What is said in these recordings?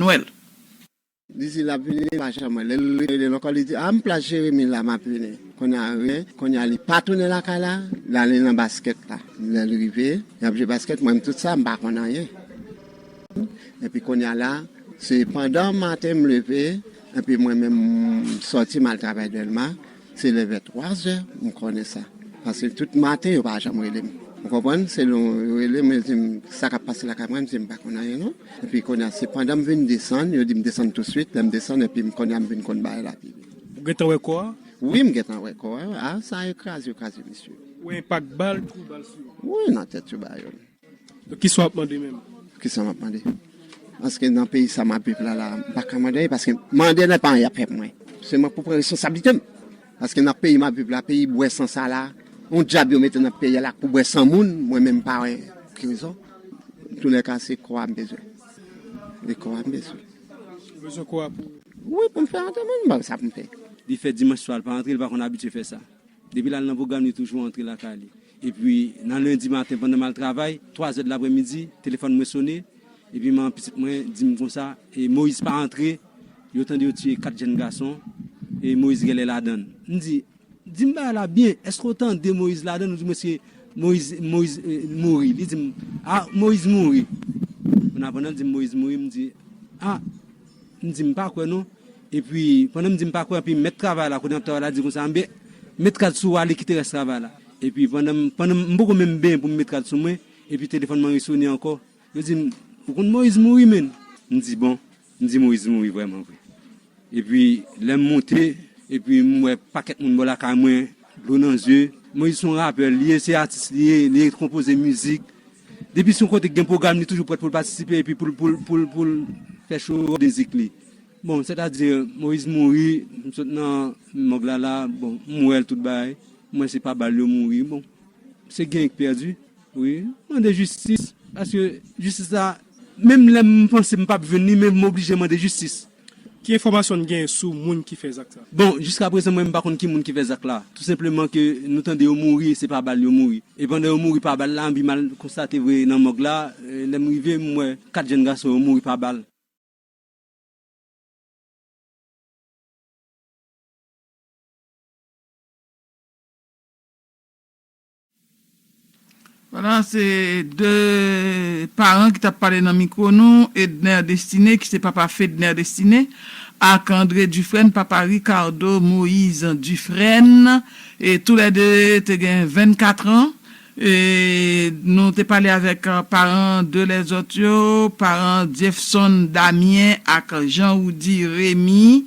Nwèl. Li di lap vini pa janm wèl lèl relel ankò li di ah m plas Jérémie la map vini kounya rien kounya li pa tounen lakay la lale nan basket la lèl rive yap jwe basket mwen menm tout sa m pa konn anyen epi kounya la se pandan maten m leve epi mwen menm m sòti mal travay Dèlma. Se lè vè 3 zè m konnen sa. Paske tout maten yo pa janm rele m. Ou konprann? Se lè yo rele m, yo di m, sa k ap pase lakay mwen? M di yo m pa konn anyen non. Epi kounye a, se pandan m vin desann, yo di m desann tousuit. Lè m desann epi m kounye a m vin konn bagay la pi byen. Ou gentan wè kò a? Wi, m gentan wè kò a. A sa yo kraze, yo kraze mesye. Ou wè enpak bal, twou bal sou yo? Wi, nan tèt yo ba yo. Kisa wap mande menm? Kisa map mande? Paske nan peyi sa map viv la la, m pa ka mande anyen paske mande nan pa anyen yap fè pou mwen. Se mwen pou pran responsablitem. Paske nan peyi map viv la, peyi bwè san sa la, yon djab yo mete nan peyi a la pou bwè san moun, mwen menm m pa wè ki rezon. Antoulèka se kò a m bezwen. Se kò a m bezwen. Ou bezwen kò a pou? Wi pou m fè antèman m, m pa gen sa pou m fè. Li fè dimanch swa l pa antre, li pa konn abitye fè sa. Depi l al nan pwogram li toujou antre lakay li. Epi nan lendi maten pandan m al travay, twazè de lapremidi, telefòn mwen sone, epi manman pitit mwen di m konsa, e Moyiz pa antre, yo tande yo tiye kat jenn gason, e Moyiz gèlè ladan l. M di, di m bagay la byen, èske w tande Moyiz ladan l? Ou di mwen se Moyiz, Moyiz mouri. Li di m, a, Moyiz mouri. Kounya pandan l di m Moyiz mouri, m di, a. M di m pa kwè non. Epi, pandan m di m pa kwè anpi mèt travay la, kodenantè travay la di konsa, anben, met kad sou ou ale kite rès travay la. Epi, pandan m, pandan m, m poko menm benyen pou m met kad sou mwen, epi telefòn mwen resone ankò. Yo di m, ou konn Moyiz mouri menn. M di bon, m di Moyiz mouri vrèman vre. Epi, lè m monte, epi m wè pakèt moun bò lakay mwen, dlo nan zye. Moyiz se yon rapè li ye, se atis li ye, li konpoze mizik. Depi se yon kote ki gen pwogram li toujou prèt pou l patisipe epi pou l fè cho mizik li. Bon, sètadi Moyiz mouri, m sot nan mòg la la, bon, m wè l tout bagay, m wè se pa bal yo mouri. Bon, se genyen ki pèdi wi. M mande jistis paske jistis la, menm lè m panse m pap jwenn li men m oblije mande jistis. Ki enfòmasyon n genyen sou moun ki fè zak sa? Bon, jiska prezan mwen m pa konn ki moun ki fè zak la. Tou senpleman ke nou tande yo mouri, se pa bal yo mouri. E pandan yo mouri pa bal la, anbi m al konstate vre nan mòg la, lè m rive m wè 4 jenn gason yo mouri pa bal. Wala se 2 paran ki tap pale nan mikwo nou, Edner Destiné ki se papa Fedner Destiné ak André Dufresne papa Ricardo Moïse Dufresne e tou lè 2 te gen 24 ans e nou te pale avèk paran 2 lè zòt yo, paran Diefson Damien ak Jean Roudy Rémy.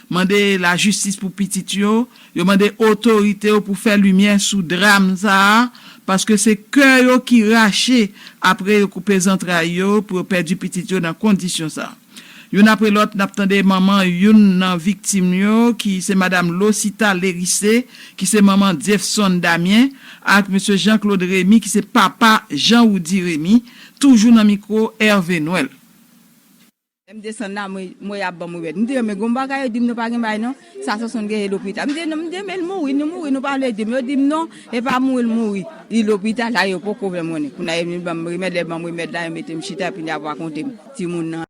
Mande lajistis pou pitit yo, yo mande otorite yo pou fè limyè sou dram sa a, paske se kè yo ki rache apre yo koupe zantray yo pou yo pèdi pitit yo nan kondisyon sa. Youn apre lòt n ap tande manman youn nan viktim yo ki se madam Losita Lerice ki se manman Dyefson Damien ak mesye Jean Claude Remy ki se papa Jean Roudy Remy toujou nan mikwo Hervé Noël. Lèm desann la mwen yap banm remèd mte renmen gon bagay yo dim non pa gen bagay non sa sonsonn gen e lopital mte non mte renmen mouri nou mouri nou pa vle dim yo dim non epa mouri l mouri li lopital la yo poko fèm konnen kounya yo vin banm remèd lè yo banm remèd la yo metem chita epi yap rakontem timoun nan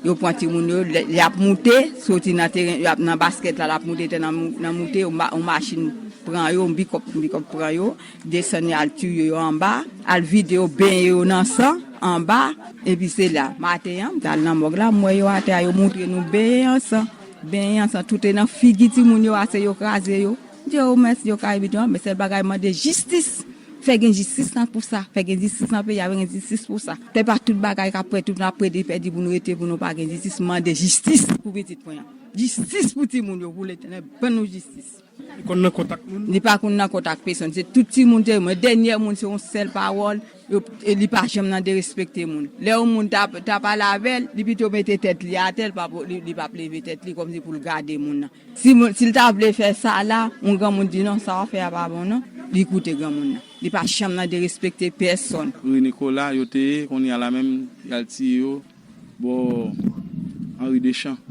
yo pran timoun yo yap moute soti nan teren yap nan baskèt la lap moute tè nan moute yon machin pran yo yon bikòp yon bikòp pran yo. Desann yo al touye yo anba, al vide yo, benyen yo nan san anba. Epi se la, maten an, m t al nan mòg la, m wè yo atè a, yo moutre nou benyen an san, benyen an san, tout e nan figi timoun yo ase yo kraze yo. M di yo mèsi, yo ka evitan, men sèl bagay m mande jistis, fè gen jistis nan pou sa, fè gen jistis nan peyi a, fè gen jistis pou sa. Se pa tout bagay k ap pèdi, tout ap pèdi, pèdi pou nou rete, pou nou pa gen jistis, m mande jistis pou pitit mwen an, jistis pou timoun yo, pou Letènèl ban nou jistis. Li konn nan kont ak moun? Li pa konn nan kont ak pesonn. Se tout timoun te renmen l. Dènyè moun se yon sèl pawòl. Li pa janm nan derespekte moun. Lè yon moun ta pale avè l, li pito mete tèt li atè, li pap leve tèt li kòmsi pou l gade moun nan. Si l ta vle fè sa la, yon granmoun di, non, sa w ap fè a pa bon non, li koute granmoun nan. Li pa janm nan derespekte pèsonn. Rue Nicolas yo te ye, kounye a la menm y al tiye yo bò Henri Deschamps.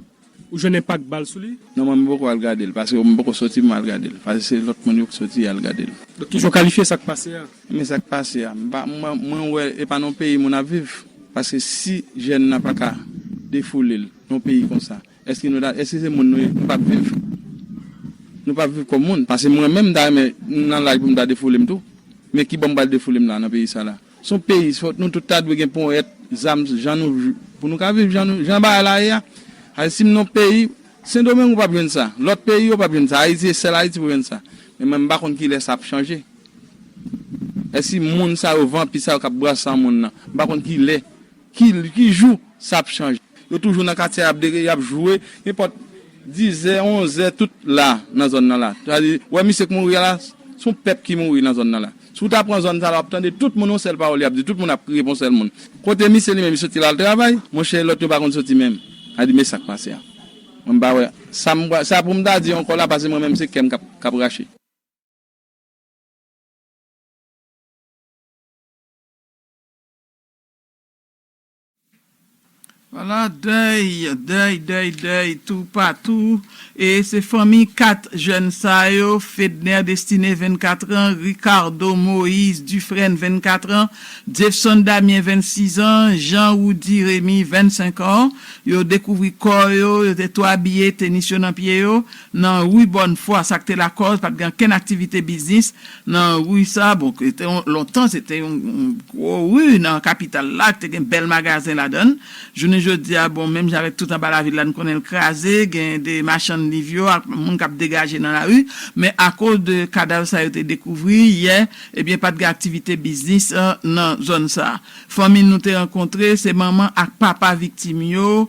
Ou jwenn enpak bal sou li? Non mwen m poko al gadel paske m poko soti m al gadel pase se lot moun yo k soti yal gadel. Donk kijan w kalifye sak pase a? Ebyen sak pase a m pa mwen wè e pa nan yon peyi moun ap viv paske si jèn nan paka defoule l nan yon peyi konsa eske nou ta eske se moun nou ye nou pap viv nou pap viv kòm moun pase mwen menm m ta renmen m nan laj pou m ta defoule m tou men kibò m pral defoule m la nan peyi sa la. Son peyi fòt nou tout ta dwe gen ponyèt zam jan nou pou nou ka viv jan nou jan bagay la ye a Haïti sim non peyi sendomeng ou pap jwenn sa lòt peyi yo pap jwenn sa Haïti e sèl Haïti pou jwenn sa men mwen mpa konn kilè sa ap chanje èsi moun sa yo vanpi sa yo kap brasa moun nan mpa konn kilè Ki jou sa ap chanje. Yo toujou nan katye abdere yap jwe nenpòt dizè onzè tout la nan zòn nan la sa di wè misye k mouri a la son pèp ki mouri nan zòn nan la si w ta pran zòn sa la wap tande tout moun yon sèl pawòl yap di tout moun ap kriye pou yon sèl moun kote misye li menm li soti lal travay monchè lòt yo pa konn soti menm sa di men sak pase a mwen m pa wè sa m pral sa pou m ta di ankò la pase mwen menm se kèm kap kap rache. Wala dèy, dèy, dèy, dèy toupatou e se fanmi 4 jèn sa yo, Fedner Destiné 24 an, Ricardo Moïse Dufresne 24 an, Jeffson Damien 26 an, Jean Roudy Rémy 25 ans, yo dekouvri kò yo, yo te tou abiye, tenis yo nan pye yo. nan ri Bòn Fwa, sa k te lakòz pa t gen ankenn aktivite biznis nan ri sa a. Bon, se te yon, lontan, se te yon gwo ri nan kapital la, ki te gen bèl magazen ladan l. Jounen jodi a, bon, menm jan avèk tout anba lavil la, n konnen l kraze, gen de machann liv yo ak moun k ap degaje nan lari, men akoz de kadav sa yo te dekouvri yè, ebyen pa t gen aktivite biznis nan zòn sa a. Fanmi nou te rankontre, se manman ak papa viktim yo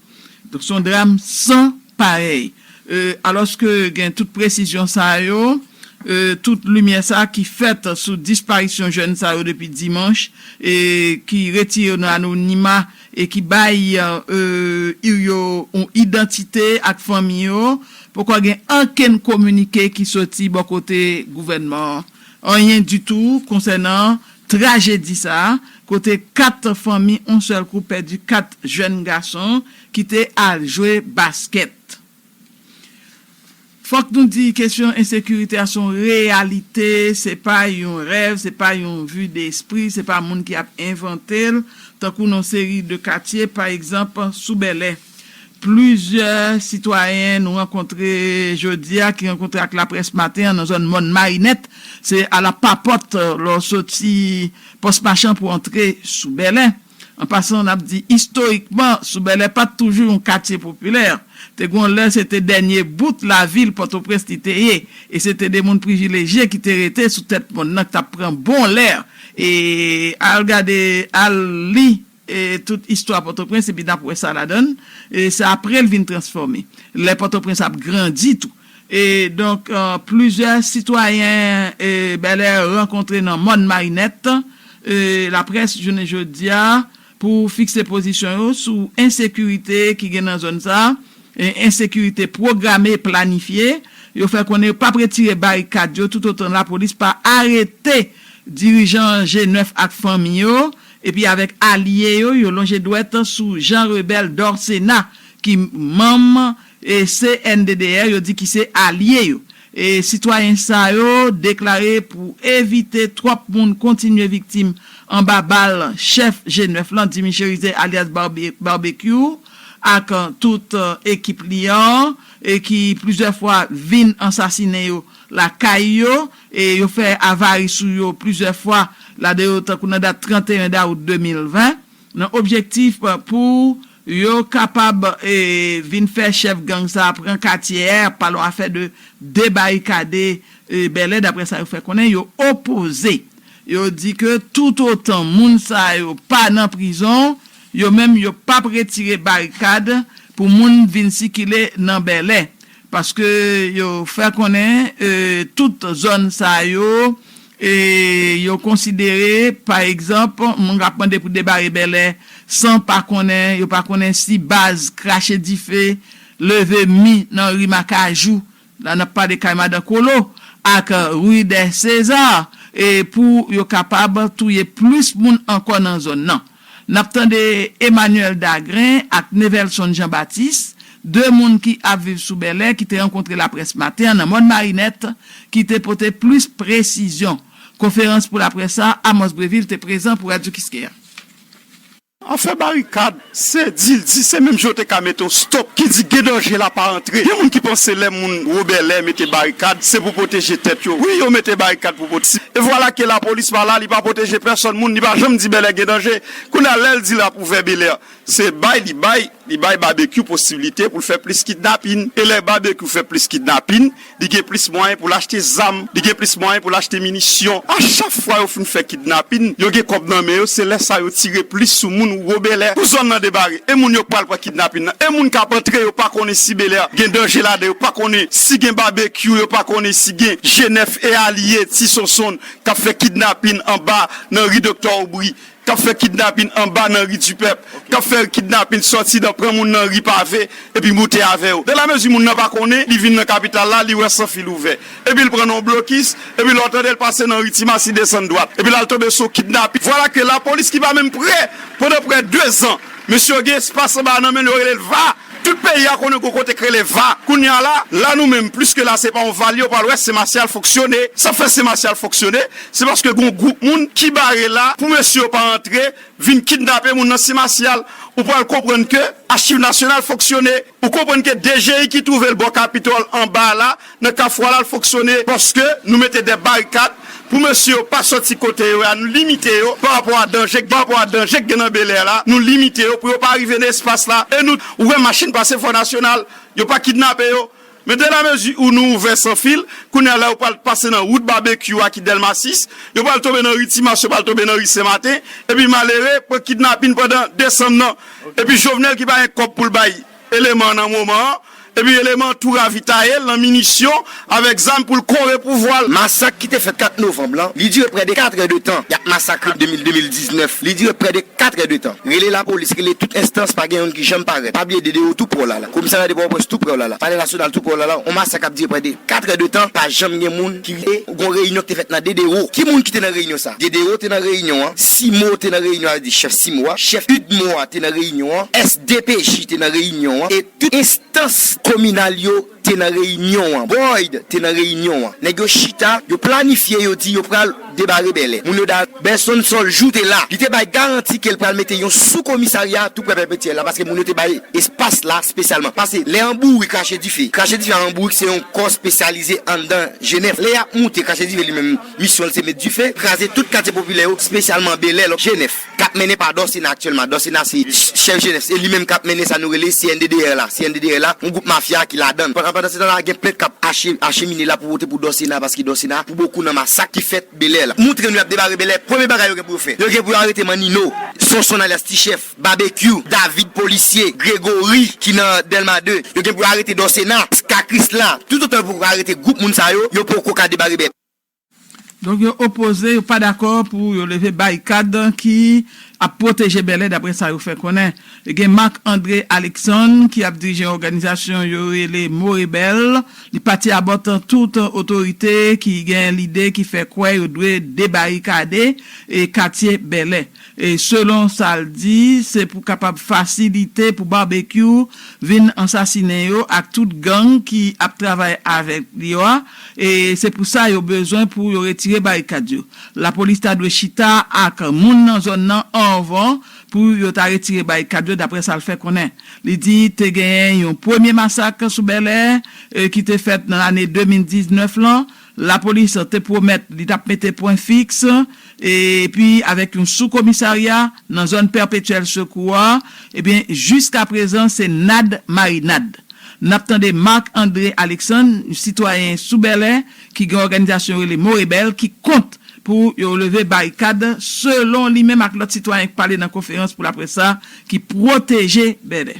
Donk son dram san parèy. Alòske gen tout presizyon sa yo, tout limyè sa ki fèt sou disparisyon jèn sa yo depi dimanch, ki retire yo nan anonima e ki bay ir yo yon idantite ak fanmi yo, poko gen ankenn kominike ki soti bò kote gouvènman an. Anyen ditou konsènan Trajedi sa a, kote 4 fanmi on sèl kou pèdi 4 jèn gason ki te al jwe baskèt. Fòk nou di kesyon ensekirite a son reyalite, se pa yon rèv, se pa yon vue d'esprit, se pa moun ki ap envante l, tankou non seri de katye, pa egzanp, sou Bèlè. Plizyè sitwayen nou rankontre jodi a ki rankontre ak laprès maten an nan zòn Mòn Marinèt, se ala pa pòt lè w soti Pòs Machan pou w antre sou Bèlè. An pasan n ap di istorikman sou Bèlè pa t toujou yon katye popilè. Te gen yon lè se te dènye bout lavil Pòtoprens li te ye e se te de moun privilejye ki te rete sou tèt mòn nan k t ap pran bon lè e al gade, al li. tout istwa Pòtoprens epi n ap wè sa ladan l. Se apre l vin transfòme, lè Pòtoprens ap grandi tou. Donk, plizyè sitwayen Bèlè rankontre nan Mòn Marinèt laprès jounen jodi a pou fikse pozisyon yo sou ensekirite ki gen nan zòn sa a, ensekirite pwograme, planifye. Yo fè konnen yo p ap retire barikad yo toutotan lapolis pa arete dirijan G9 ak fanmi yo Epi avèk alye yo, yo lonje dwèt sou Jean Rebel Dorcénat ki manm CNDDR yo di ki se alye yo. Sitwayen sa yo deklare pou evite twòp moun kontinye viktim anba bal chèf G9 lan Dimy Cherizier alyas Barbecue ak tout ekip li an ki plizyè fwa vin ansasinen yo lakay yo. E yo fè avari sou yo plizyè fwa, ladan yo tankou nan dat 31 dawout 2020, nan objektif pou yo kapab vin fè chèf gang sa a pran katye è, ap pale yon afè de debarikade Bèlè, daprè sa yo fè konnen, yo opoze. Yo di ke toutotan moun sa yo pa nan prizon, yo menm yo p ap retire barikad pou moun vin sikile nan Bèlè. Paske yo fè konnen tout zòn sa yo yo konsidere pa egzanp moun kap mande pou debare Bèlè san pa konnen yo pa konnen si baz krache dife leve mi nan ri Makajou la nap pale kay madan Kolo ak rue des César pou yo kapab touye plis moun ankò nan zòn nan. N ap tande Emmanuel Dagrin ak Nevelson Jean Baptiste, 2 moun ki ap viv sou Bèlè ki te rankontre laprès maten an nan Mòn Marinèt ki te pote plis presizyon. Konferans pou laprès sa a, Amos Brevil te prezan pou Radyo Kiskeya. Afè barikad, se di l di, se menm jan yo te ka mete yon stop ki di gen danje la pa antre. Gen moun ki panse lè moun wo Bèlè mete barikad, se pou pwoteje tèt yo. Wi yo mete barikad. E vwala ke lapolis pa la, li pa pwoteje pèsòn moun, li pa janm di Bèlè gen danje. Kounye a, lè l di l ap ouvè Belè, se bay li bay, li bay Babekyou posiblite pou l fè plis kidnapin. E lè Babekyou fè plis kidnapin, li gen plis mwayen pou l achte zam, li gen plis mwayen pou l achte minisyon. A chak fwa yo fin fè kidnapin, yo gen kòb nan men yo, se lè sa yo tire plis sou moun ou wo Belè. Kou zòn nan debare, e moun yo k pral pran kidnapin nan, e moun k ap antre yo pa konnen si Belè gen danje ladan, yo pa konnen si gen Babekyou, yo pa konnen si gen G9, e alye Ti Sonsonn k ap fè kidnapin anba nan ri Doktè Obri, k ap fè kidnapin anba nan ri Dipèp, k ap fè kidnapin sòti nan pran moun nan ri Pave epi moute avè yo. Dan lamezi moun nan pa konnen, li vin nan kapital la, li wè san fil ouvè. Epi l pran nan yon blokis, epi lè w tande l pase nan ri Timas, li desann dwat. Epi la l tonbe sou kidnapin. Vwala ke lapolis ki pa menm pre, pandan pre dezan, mesye yo gen espas anba nan men l, yo rele l va. Tout peyi a konnen gon kote k rele va kounye a la, la nou menm pliske la se pa yon valye ou pral wè sen masyal fonksyone, sa fè sen masyal fonksyone se paske gon gwoup moun ki bare la pou mesye yo pa antre vin kidnape moun nan sen masyal ou pral konprann ke achiv nasyonal fonksyone ou konprann ke dji ki twouve l bò kapitòl anba a la nan kafou a la fonksyone paske nou mete de barikad pou mesye yo pa soti kote yo ya nou limite yo pa rapò a danje pa rapò a danje ki gen nan belè la nou limite yo pou yo pa rive nan espas la e nou ou wè machin pase fò nasyonal yo pa kidnape yo men de la mezi ou nou ouvè san fil kounye a la yo pral pase nan wout babekyou a ki dèlma 6 yo pral tonbe nan ri timas yo pral tonbe nan ri senmaten epi malere pran kidnapin pandan desanm nan epi jovenel ki pa gen kòb pou l bay eleman nan moman an, epi eleman an tou ravitaye l nan minisyon avèk zam pou l kore pouvwa l. Masak ki te fèt 4 novanm lan, li dire prè de 4 è de tan. Y ap masakre 2000, 2019, li dire prè de 4 è de tan. Rele lapolis, rele tout enstans, pa gen youn ki janm parèt. Pa bliye DDO tou prè w la la. Komisarya de Pòtoprens tou prè w la la. Palè Nasyonal tou prè w la la. On masak k ap dire prè de 4 è de tan, pa janm gen moun ki rive. Gon reyinyon ki te fèt nan Dedero. Ki moun ki te nan reyinyon sa a? Dedero te nan reyinyon an. Simo te nan reyinyon an, sa vle di chèf Simo a. Chèf udmo a te nan reyinyon an. SDPJ te nan reyinyon an. E tout enstans kominal yo te nan reyinyon an. Boyd te nan reyinyon an. Nèg yo chita, yo planifye, yo di yo pral debare Bèlè. Moun yo da. Benson Sol Jou te la. Li te bay garanti ke l pral mete yon sou komisarya tou prè Vètyè la paske moun yo te bay. espas la spesyalman pase lè an bourik krache dife krache dife an bourik se yon kò spesyalize anndan jenèf lè yap moute krache dife li menm misyon l se met dife kraze tout katye popilè yo spesyalman belè lòk jenèf kap mennen pa dòsena aktyèlman dòsena se chèf jenèf se li menm kap mennen sa nou rele cnddr la cnddr la yon gwoup mafya ki ladan l pandan setan la gen plent kap achemine la pou vote pou dòsena paske dòsena pou bokou nan masak ki fèt belè la moutre nou yap debare belè premye bagay yo gen pou yo fè yo gen pou yo arete manino sonson alyas ti chèf. Babekyou, David polisye, Gregory ki nan Delma 2, yo gen pou yo arete Dorcena, Pska Krisla, tout otan yo poko arete gwoup moun sa yo, yo poko ka debare bèt. Donk yo opoze, yo pa dakò pou yo leve barikad ki ap pwoteje Bèlè daprè sa yo fè konnen. Gen Marc André Alexandre ki ap dirije yon òganizasyon yo rele Mo Rebèl, li pati a bòt tout otorite ki gen lide ki fè kwè yo dwe debarikade katye Bèlè. Selon sa l di, se pou kapab fasilite pou Barbecue vin ansasinen yo ak tout gang ki ap travay avèk li yo a, e se pou sa yo bezwen pou yo retire barikad yo. Lapolis ta dwe chita ak moun nan zòn nan anvan pou yo ta retire barikad yo, daprè sa l fè konnen. Li di te genyen yon premye masak sou Bèlè ki te fèt nan lane 2019 lan, Lapolis te pwomèt li t ap mete pwen fiks epi avèk yon sou komisarya nan zòn Pèpetyèl Sekou a, ebyen jiska prezan se nad marinad. N ap tande Marc André Alexandre, yon sitwayen sou Bèlè ki gen òganizasyon yo rele Morebèl ki kont pou yo leve barikad selon li menm ak lòt sitwayen k pale nan konferans pou laprès sa ki pwoteje Bèlè.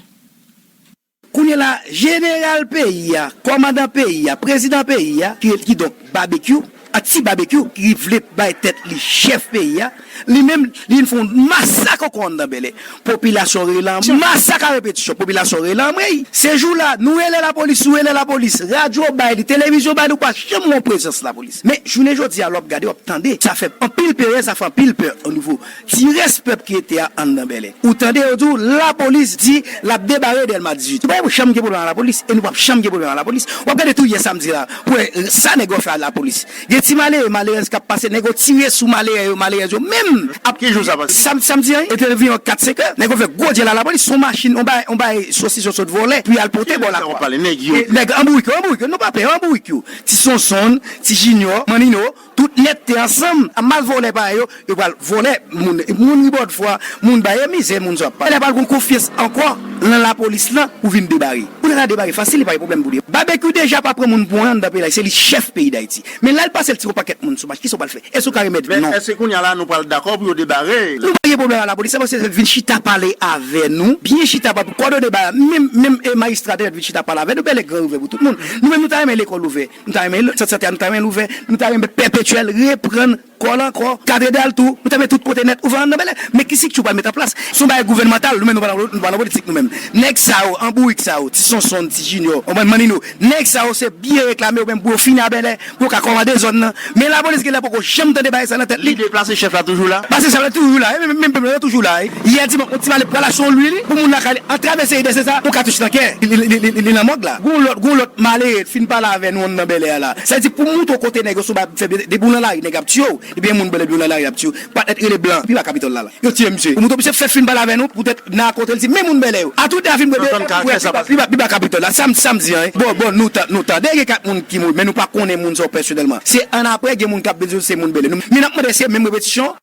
Kounye la, jeneral peyi a, kòmandan peyi a, prezidan peyi a, kidonk Babekyou, ak Ti Babekyou ki vle bay tèt li chèf peyi a, li menm, li vin fè yon masak ankò anndan Bèlè. Popilasyon rele an masak a repetisyon. Popilasyon rele anmwey. Se jou la, nou rele lapolis, nou rele lapolis. Radyo bay li, televizyon bay li, ou pa janm wè yon prezans lapolis. Men, jounen jodi a, lè w ap gade, w ap tande, sa fè anpil peren, sa fè anpil pè onivo. Ti rès pèp ki rete a anndan Bèlè. Ou tande yo di w lapolis di l ap debare Dèlma 18. Nou pa janm gen pwoblèm ak lapolis e nou pap janm gen pwoblèm ak lapolis. W ap gade tou yè samdi la pou wè sa nèg yo ap fè a lapolis. Gen ti malere, malerèz k ap pase, nèg yo tire sou malerè yo, malerèz yo menm ap. Ki jou sa pase? Samdi an, e te anviwon kat senk è. Nèg yo fè gwo dyèl a lapolis. S on machin, on bagay, on bagay sosis yo sot vòlè pou y al pote bò lakwa. Nèg yo anbourik yo, anbourik yo. Nou pa pè yo, anbourik yo. Ti Sonsonn, ti Jinyò, Mannino. Tout net te ansanm a mal volè pa yo yo pral volè moun moun ribord fwa moun ba e mizè moun sa pale pral gon konfyans ankò lan la polis lan pou vin debare pou nèg la debare fasil li pa gen pwoblèm pou li babekyou deja pa pran moun pou anyan nan peyi la se li chèf peyi dayiti men lal pasel ti yon pakèt moun sou mach kisa ou pral fè èske ou ka remèt vin non. Èske kounya la nou pral dakò pou yo debare. Nou pa gen pwoblèm a la polis se paske vin chita pale avè nou byen chita pap kòdone ba menm menm majistra te mèt vin chita pale avè nou bèlè gran ouvè pou tout moun nou menm nou ta renmen lekòl ouvè Nou ta renmen sant sante a nou ta renmen l ouvè, nou ta renmen Pèpetyèl reprann kò l ankò, katredral tou, nou ta renmen tout kote nèt ouvè an nan Bèlè. Men ki sikti w pral met anplas? Se yon bagay gouvènmantal, nou menm nou pa nan politik nou menm. Nèg sa yo, an bourik sa yo, ti Sonsonn, ti Jinyò, konprann, Mannino, nèg sa yo se biye reklame yo menm pou yo fin a Bèlè, pou yo ka kòmande zòn nan. Men lapolis genlè poko janm tande bagay sa nan tèt li. Lide plase chèf la toujou la. Plase chèf la toujou la. Menm pèp la yo toujou la. Yè dimanch yon ti malè pral achte yon lwil pou moun lakay li antrave se Eberse sa pou katouch nan kè li nan mòg la. Gon lòt gon lòt malere t fin pale avè nou nan Bèlè a la. Sa vle di pou moutre w kote nèg yo sou bay ap fè bgy depi w nan lari nèg ap tiye w depi yon moun bèlè depi w nan lari ap tiye w. Pat nèt rele blan viva capitol la la yo tiye misye pou mouton misye fè film pale avè nou pou tèt nan akontrel di men moun bèlè yo a tout avin bwè de pou wè viva viva capitol la sam sam di an bon bon nou tan nou tande gen 4 moun ki mouri men nou pa konnen moun sa yo pèsonèlman se an aprè gen moun kap vin di nou se moun bèlè nou men nap mande se menm repetisyon.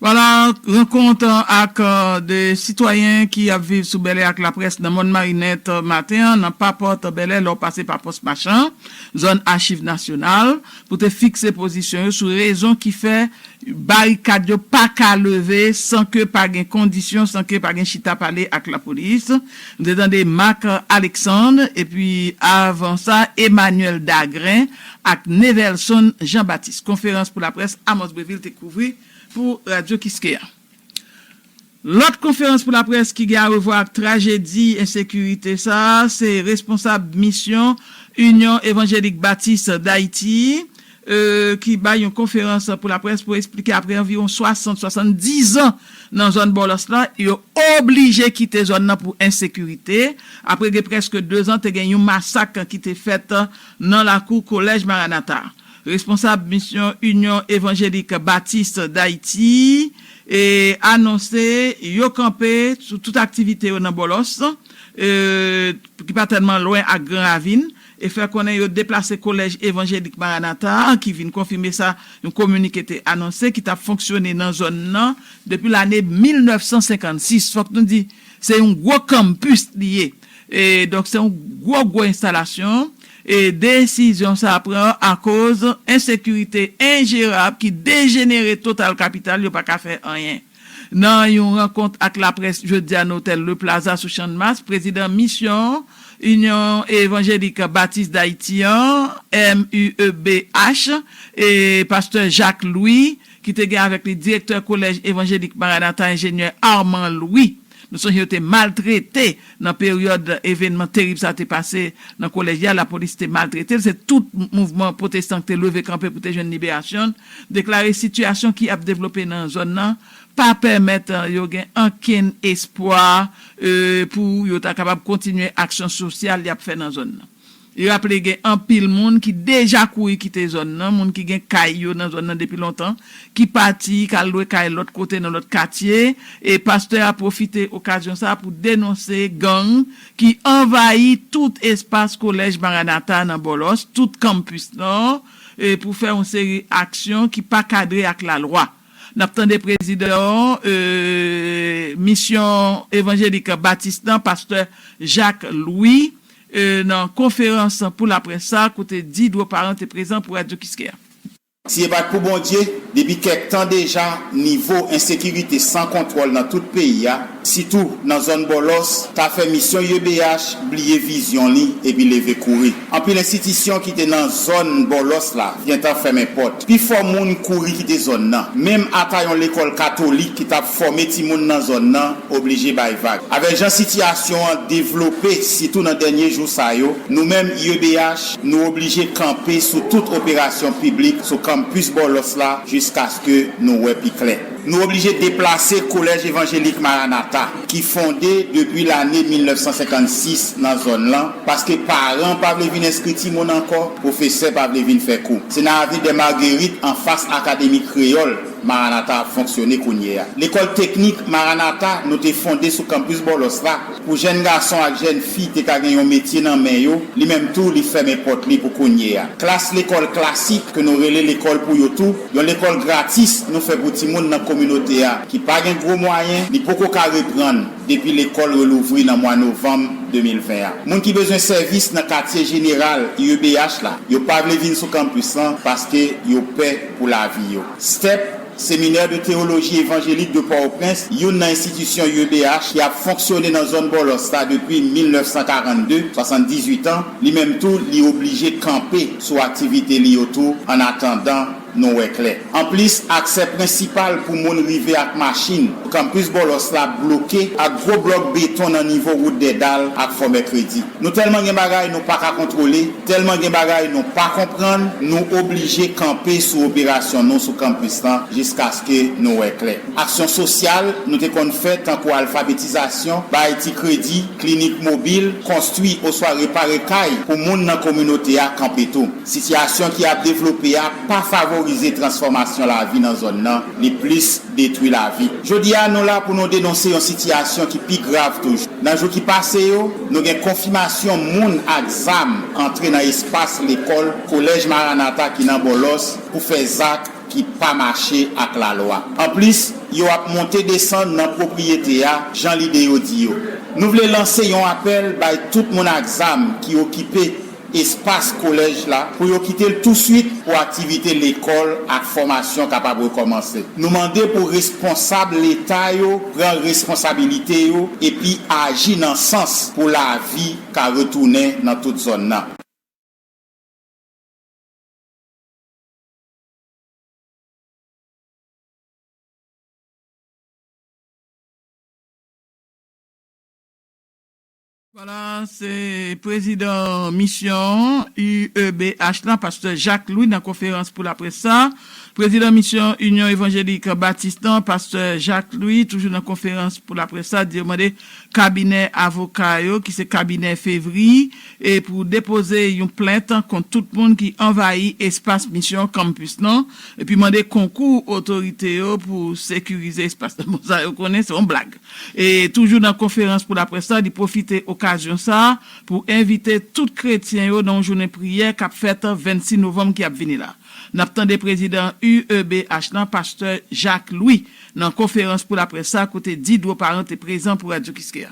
Voilà, rankont ak 2 sitwayen ki ap viv sou Bèlè ak laprès nan Mòn Marinèt maten an nan pa pòt Bèlè lè w pase pa pòs Machan, zòn Achiv Nasyonal. Pou te fikse pozisyon yo sou rezon ki fè barikad yo pa ka leve san ke pa gen kondisyon, san ke pa gen chita pale ak lapolis. Nou te tande Marc Alexandre epi avan sa Emmanuel Dagrin ak Nevelson Jean Baptiste. Konferans pou laprès Amos Brevil te kouvri pou Radio Kiskeya. Lòt konferans pou laprès ki gen arevwa ak trajedi ensekirite sa a se responsab misyon Inyon Evanjelik Batis Dayiti ki bay yon konferans pou laprès pou esplike apre anviwon 60, 70 zan nan zòn Bòlòs la, yo oblije kite zòn nan pou ensekirite apre gen prèske 2 zan te gen yon masak ki te fèt nan lakou Kolèj Maranata. Responsab misyon Inyon Evanjelik Batis Dayiti anonse yo kanpe sou tout aktivite yo nan Bòlòs, ki pa tèlman lwen ak Gran Ravin, e fè konnen yo deplase Kolèj Evanjelik Maranatha a, ki vin konfime sa yon kominike te anonse, ki t ap fonksyone nan zòn nan depi lane 1956. Fòk nou di se yon gwo kanmpis li ye, donk se yon gwo gwo enstalasyon. Desizyon sa pran akoz ensekirite enjerab ki dejenere total kapital yo pa ka fè anyen. Nan yon rankont ak laprès jodi a nan otèl Le Plaza sou Channmas, prezidan misyon Inyon Evanjelik Batis Dayiti an, MUEBH, pastè Jacques Louis, ki te gen avèk li direktè kolèj evanjelik Maranatha enjenyè Armand Louis, Nou sonje yo te maltrete nan peryòd evènman terib sa te pase nan kolèj la, lapolis te maltrete l, se tout mouvman pwotestan ki te leve kanpe pou te jwenn liberasyon l, deklare sitiyasyon ki ap devlope nan zòn nan pa pèmèt yo gen ankenn espwa pou yo ta kapab kontinye aksyon sosyal y ap fè nan zòn nan. Li raple gen anpil moun ki deja kouri kite zòn nan, moun ki gen kay yo nan zòn nan depi lontan, ki pati, ki al lwe kay lòt kote nan lòt katye, e pastè a pwofite okazyon sa pou denonse gang ki anvayi tout espas Kolèj Maranatha nan Bòlòs, tout Campus Nord, pou fè yon seri aksyon ki pa kadre ak lalwa. N ap tande prezidan Misyon Evanjelik Batis nan, pastè Jacques Louis. nan konferans pou laprès sa a kote Didro Parent te prezan pou Radio Kiskeya. Si e pa t pou Bondye, depi kèk tan deja nivo ensekirite san kontwòl nan tout peyi a, sitou nan zòn Bòlòs, ta fè misyon YBH bliye vizyon li epi leve kouri. Anpil enstitisyon ki te nan zòn Bòlòs la gentan fèmen pòt. Pifò moun kouri kite zòn nan. Menm ata yon lekòl katolik ki t ap fòme timoun nan zòn nan oblije bay vag. Avèk jan sitiyasyon an devlope sitou nan dènye jou sa yo, nou menm UEBH nou oblije kanpe sou tout operasyon piblik sou kanmpis Bòlòs la jiskaske nou wè pi klè. Nou oblije deplase Kolèj Evanjelik Maranata. ki fonde depi lane 1956 nan zòn lan, paske paran pa vle vin enskri timoun ankò, pwofesè pa vle vin fè kou. Se nan Avenue des Marguerites anfas Akademi Kreyòl, Maranatha ap fonksyone kounye a. Lekòl teknik Maranatha nou te fonde sou kanpis Bòlòs la, pou jèn gason ak jèn fi te ka gen yon metye nan men yo, li menm tou li fèmen pòt li pou kounye a. Klas lekòl klasik ke nou rele lekòl pou yo tou, Yon lekòl gratis nou fè pou timoun nan kominote a ki pa gen gwo mwayen, li poko ka reprann depi lekòl relouvri nan mwa novanm 2020 a. Moun ki bezwen sèvis nan katye jeneral UEBH la, yo pa vle vin sou campus lan paske yo pè pou lavi yo. Step, Seminaire de Théologie Évangélique de Port-au-Prince, youn nan enstitisyon UEBH ki ap fonksyone nan zòn Bòlòs la depi 1942, 78 an, li menm tou li oblije kanpe. sou aktivite li yo tou annatandan nou wè klè. Anplis, aksè prensipal pou moun rive ak machin Kanpis Bòlòs la bloke ak gwo blòk beton nan nivo wout Dèdal ak Fò Mèkredi. Nou tèlman gen bagay nou pa ka kontwole, tèlman gen bagay nou pa konprann, nou oblije kanpe sou operasyon nou sou kanpis lan jiskaske nou wè klè. Aksyon sosyal nou te konn fè tankou alfabetizasyon, bay ti kredi, Klinik mobil, konstwi oswa repare kay pou moun nan kominote a kanpe tou. Sitiyasyon ki ap devlope a pa favorize transfòmasyon lavi nan zòn nan, li plis detwi lavi. Jodi a, nou la pou nou denonse yon sitiyasyon ki pi grav toujou. Nan jou ki pase yo, nou gen konfimasyon moun ak zam antre nan espas lekòl Kolèj Maranatha ki nan Bòlòs pou fè zak, ki pa mache ak lalwa. Anplis, yo ap monte desann nan pwopriyete a, jan lide yo di yo. Nou vle lanse yon apèl bay tout moun ak zam ki okipe espas kolèj la pou yo kite l touswit pou aktivite lekòl ak fòmasyon kapab rekòmanse. Nou mande pou responsab leta yo pran responsabilite yo epi aji nan sans pou lavi ka retounen nan tout zòn nan. Voilà se prezidan misyon UEBH la, pastè Jacques Louis nan konferans pou laprès sa. Prezidan misyon Inyon Evanjelik Batis lan, pastè Jacques Louis toujou nan konferans pou laprès sa di yo mande Kabinè avoka yo ki se kabinè fevry e pou depoze yon plent kont tout moun ki anvayi espas misyon campus lan epi mande konkou otorite yo pou sekirize espas lan bon sa yo konnen se yon blag e toujou nan konferans pou laprès la li pwofite okazyon sa pou envite tout kretyen yo nan yon jounen priyè kap fèt 26 novanm ki ap vini la nap tande prezidan UEBH lan pastè Jacques Louis Nan konferans pou laprès sa kote Didro Parent te prezan pou Radio Kiskeya.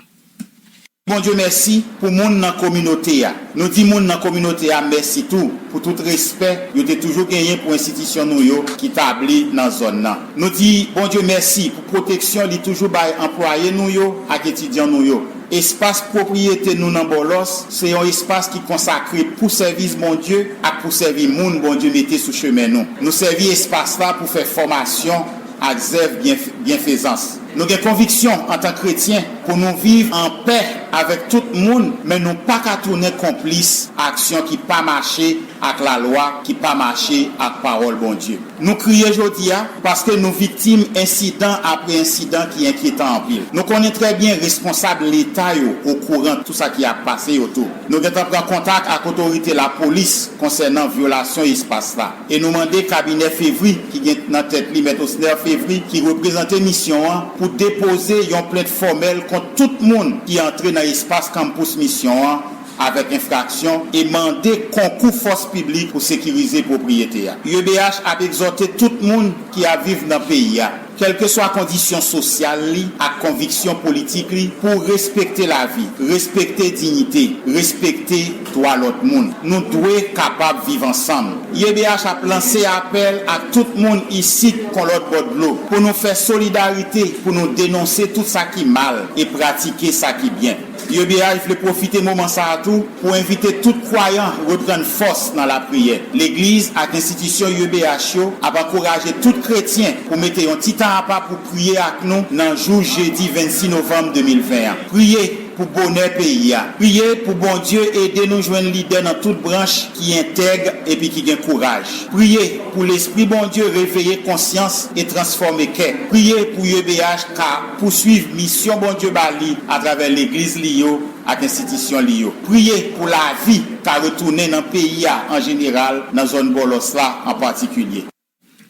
Bondye mèsi pou moun nan kominote a. Nou di moun nan kominote a mèsi tou pou tout respè yo te toujou genyen pou enstitisyon nou yo ki tabli nan zòn nan. Nou di Bondye mèsi pou pwoteksyon li toujou bay anplwaye nou yo ak etidyan nou yo. Espas pwopriyete nou nan Bòlòs se yon espas ki konsakre pou sèvis Bondye ak pou sèvi moun Bondye mete sou chemen nou. Nou sèvi espas la pou fè fòmasyon, ak zèv byenfezans. Nou gen konviksyon antan kretyen pou nou viv an pè avèk tout moun, men nou pa ka tounen konplis aksyon ki pa mache ak lalwa, ki pa mache ak Pawòl Bondye. Nou kriye jodi a paske nou viktim ensidan apre ensidan ki enkyetan anpil. Nou konnen trè byen responsab Leta yo okouran tou sa ki ap pase yo tou. Nou gentan pran kontak ak otorite lapolis konsènan vyolasyon espas la. e nou mande kabinè Fevry ki gen nan tèt li Mèt Osner Fevry ki reprezante misyon an pou depoze yon plent fòmèl kont tout moun ki antre nan espas kanmpous misyon an avèk enfraksyon e mande konkou fòs piblik pou sekirize pwopriyete a. UEBH ap egzòte tout moun ki ap viv nan peyi a. kèlkeswa kondisyon sosyal li ak konviksyon politik li, pou respekte lavi, respekte dignite, respekte dwa lòt moun. Nou dwe kapab viv ansanm. YBH ap lanse apèl ak tout moun isit kon lòt bò dlo, pou nou fè solidarite pou nou denonse tout sa ki mal e pratike sa ki byen. YBH vle pwofite moman sa a tou pou envite tout kwayan reprann fòs nan lapriyè. Legliz ak enstitisyon YBH yo ap ankouraje tout kretyen pou mete yon ti tan apa pou priye ak nou nan jou jedi 26 novanm 2020 an. Priye pou bonè peyi a. Priye pou Bondye ede nou jwenn lidè nan tout branch ki entèg epi ki gen kouraj. Priye pou lespri Bondye reveye konsyans e transfòme kè. Priye pou YBH ka. Pouswiv misyon Bondye ba li atravè Legliz li yo ak enstitisyon li yo. Priye pou lavi ka retounen nan peyi a an jeneral, nan zòn Bòlòs la an patikilye.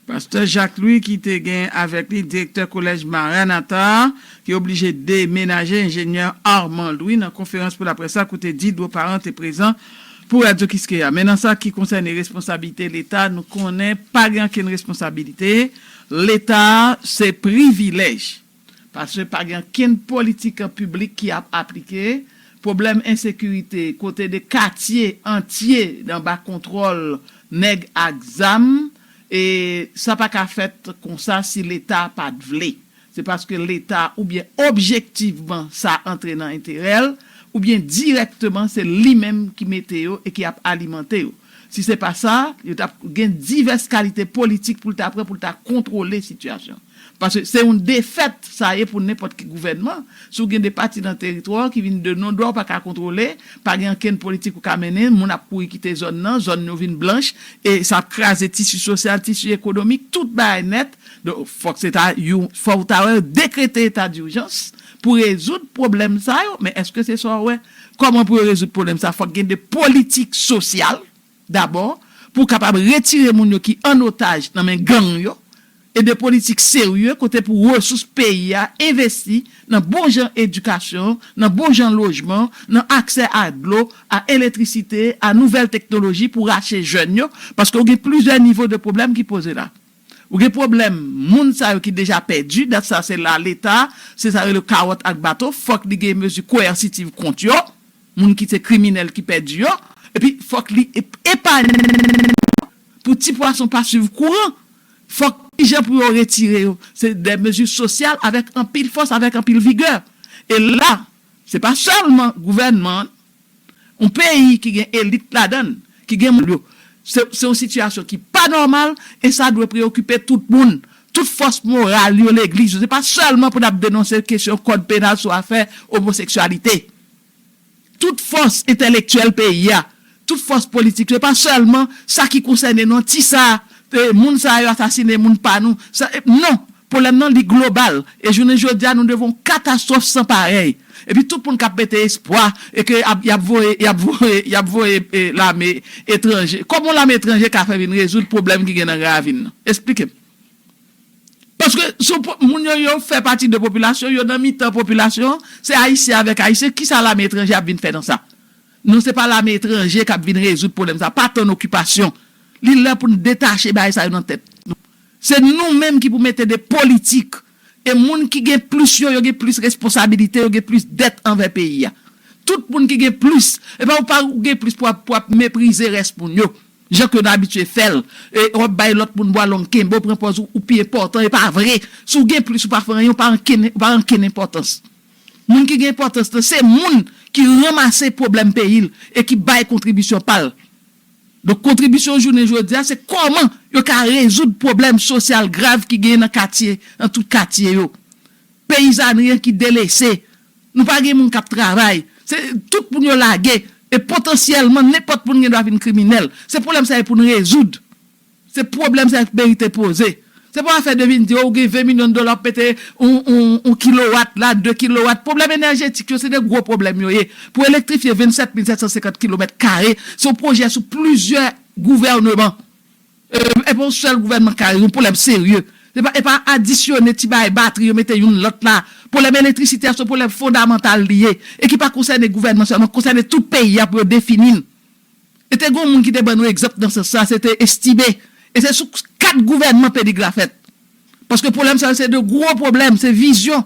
Pastè Jacques Louis ki te gen avèk li direktè Kolèj Maranatha a, ki oblije demenaje, Enjenyè Armand Louis nan konferans pou laprès la kote Didro Parent te prezan pou Radyo Kiskeya. Men nan sa ki konsène responsablite Leta, nou konnen pa gen ankenn responsabilite Leta a se privilèj, paske pa gen ankenn politik piblik ki ap aplike, pwoblèm ensekirite kote 2 katye antye anba kontwòl nèg ak zam, e sa pa ka fèt konsa si Leta pa t vle. Se paske Leta oubyen objektivman sa antre nan enterè l, oubyen dirèkteman se li menm ki mete yo e ki ap alimante yo. Si se pa sa, yo tap gen divès kalite politik pou l ta pran pou l ta kontwole sitiyasyon. Paske se yon defèt sa ye pou nenpòt ki gouvènman, si w gen de pati nan teritwa w ki vin de non dwa w pa ka kontwole, pa gen ankenn politik ou ka mennen, moun ap kouri kite zòn nan, zòn yo vin blanch, e sa ap kraze tisi sosyal, tisi ekonomik, tout bagay nèt. Donk, fòk se ta yon, fò w ta wè yo dekrete eta dijans pou rezoud pwoblèm sa yo, men èske se sa w wè? Kòman pou yo rezoud pwoblèm sa? Fòk gen de politik sosyal dabò pou kapab retire moun yo ki an otaj nan men gang yo e de politik serye kote pou resous peyi a envesti nan bon jan edikasyon, nan bon jan lojman, nan aksè a dlo, a eletrisite, a nouvèl teknoloji pou rache jèn yo paske ou gen plizyè nivo de pwoblèm ki poze la. Ou gen pwoblèm moun sa yo ki deja pèdi, dat sa se la leta, se sa yo rele kawòt ak bato, fòk li gen mezi koyèsitiv kont yo, moun ki se kriminèl ki pèdi yo, epi fòk li epanye moun yo pou ti pwason pa swiv kouran, fòk kijan pou yo retire yo, se de mezi sosyal avèk anpil fòs, avèk anpil vigè. E la, se pa sèlman gouvènman an. yon peyi ki gen elit ladann, ki gen moun yo, se yon sitiyasyon ki pa nòmal e sa dwe preyokipe tout moun, tout fòs moral yo, legliz yo, se pa sèlman pou n ap denonse kesyon kòd penal sou afè omoseksyalite. Tout fòs entèlektyèl peyi a, tout fòs politik yo, se pa sèlman sa ki konsène nou an, ti sa, moun sa yo asasine moun pa nou, non! Pwoblèm nan li global e jounen jodi a nou devan yon katastwòf san parèy. Epi tout moun k ap mete espwa e ke y ap voye y ap voye y ap voye lame etranje. Kòman yon lame etranje ka fè vin rezoud pwoblèm ki gen nan Gravin nan? Esplike m. Paske sou po moun yo yo fè pati de popilasyon, yo nan mitan popilasyon an, se Ayisyen avèk Ayisyen, ki sa lame etranje ap vin fè nan sa? Non se pa lame etranje k ap vin rezoud pwoblèm sa. Pa tann okipasyon. Li lè pou n detache bagay sa yo nan tèt nou. Se nou menm ki pou mete de politik e moun ki gen plis yo, yo gen plis responsabilite, yo gen plis dèt anvè peyi a. Tout moun ki gen plis, e pa ou pa ou gen plis pou ap pou ap meprize rès moun yo, jan ke nou abitye fè l, e w ap bay lòt moun bwa long kenbe w pran pòz ou ou pi enpòtan, e pa vre, si w gen plis ou pa fè anyen, ou pa anken ou pa anken enpòtans. Moun ki gen enpòtans lan se moun ki ranmase pwoblèm peyi l e ki bay kontribisyon pa l. Donk kontribisyon jounen jodi a se kòman yo ka rezoud pwoblèm sosyal grav ki genyen nan katye, nan tout katye yo. Peyizanri an ki delese, nou pa gen moun k ap travay, se tout moun yo lage e potansyèlman nenpòt moun gen dwa vin kriminèl. Se pwoblèm sa yo pou n rezoud. Se pwoblèm sa yo ki merite poze. Se pa afè de vin di o ou gen 20 milyon dola wap mete yon kilowat la, 2 kilowat. Pwoblèm enèjetik yo se 2 gwo pwoblèm yo ye. Pou elektrifye 27 mil 750 kilomèt kare, se yon pwojè sou plizyè gouvèneman. E pa yon sèl gouvènman ki ka yon pwoblèm serye. E pa adisyone ti bagay batri yo mete youn lòt la. Pwoblèm elektrisite a se yon pwoblèm fondamantal li ye. E ki pa konsène gouvènman sèlman, konsène tout peyi a pou yo defini l. E te gen yon moun ki te ban nou egzanp nan sans sa, se te Estime. E se sou 4 gouvènman Pelig la fèt. Paske pwoblèm sa yo se 2 gwo pwoblèm, se vizyon.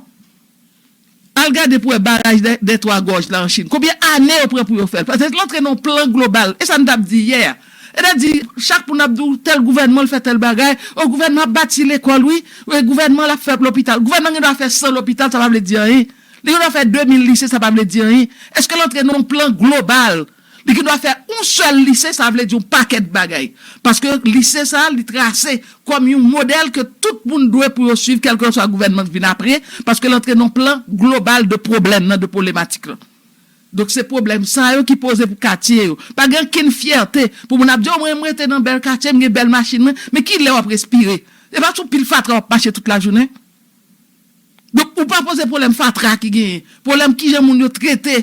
Al gade pou wè baraj dè twa gòj la an Chin. Konbyen ane yo pran pou yo fè l? Paske l antre nan yon plan global. E sa n t ap di yè a. E te di, chak moun ap di w tèl gouvènman l fè tèl bagay. O gouvènman ap bati lekòl wi. E gouvènman l ap fè lopital. Gouvènman gen dwa fè 100 lopital, sa pa vle di anyen. Li gen dwa fè 2000 lise, sa pa vle di anyen. Eske l antre nan yon plan global? Li gen dwa fè yon sèl lise, sa vle di yon pakèt bagay. Paske lise sa a li trase kòm yon modèl ke tout moun dwe pou yo swiv kèlkeswa gouvènman k vin apre, paske l antre nan yon plan global de pwoblèm nan, de pwoblematik lan. Donk se pwoblèm sa yo ki poze pou katye yo. Pa gen ankenn fyète pou moun ap di, o mwen m rete nan bèl katye, m gen bèl machin mwen. Men ki lè w ap respire? Se pa sou pil fatra w ap mache tout lajounen? Donk ou pa poze pwoblèm fatra ki genyen, pwoblèm kijan moun yo trete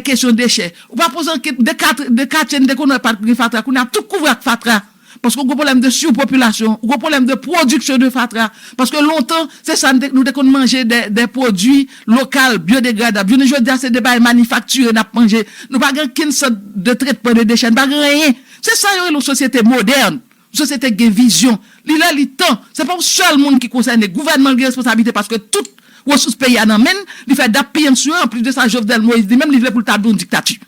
kesyon dechè. Ou pa poze ankèt de katre, de katye n te konn wè pa t gen fatra, kounye a tout kouvri ak fatra. Paske ou gen pwoblèm de surpopulation, ou gen pwoblèm de production de fatra. Paske lontan, se sa n te, nou te konn manje de, de pwodui lokal, biodegradab. Jounen jodi a se de bagay manifaktire n ap manje. Nou pa gen okenn sant de tretman de dechè, nou pa gen anyen. Se sa yo rele yon sosyete modèn. Sosyete k gen vizyon. Li lè li tan. Se pa yon sèl moun ki konsène. Gouvènman gen responsablite paske tout resous peyi a nan men l. Li fè dap piye n sou yo. Anplis de sa Jovenel Moïse li menm li vle pou l tabli yon diktati.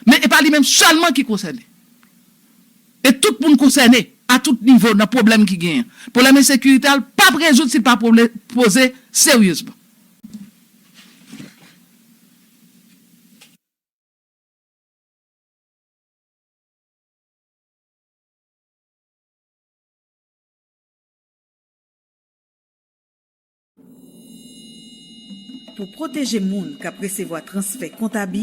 Men e pa li menm sèlman ki konsène. E tout moun konsène a tout nivo nan pwoblèm ki genyen. Pwoblèm ensekirite a l pap rezoud si l pa poze seryezman. Pou pwoteje moun k ap resevwa transfè kont abi,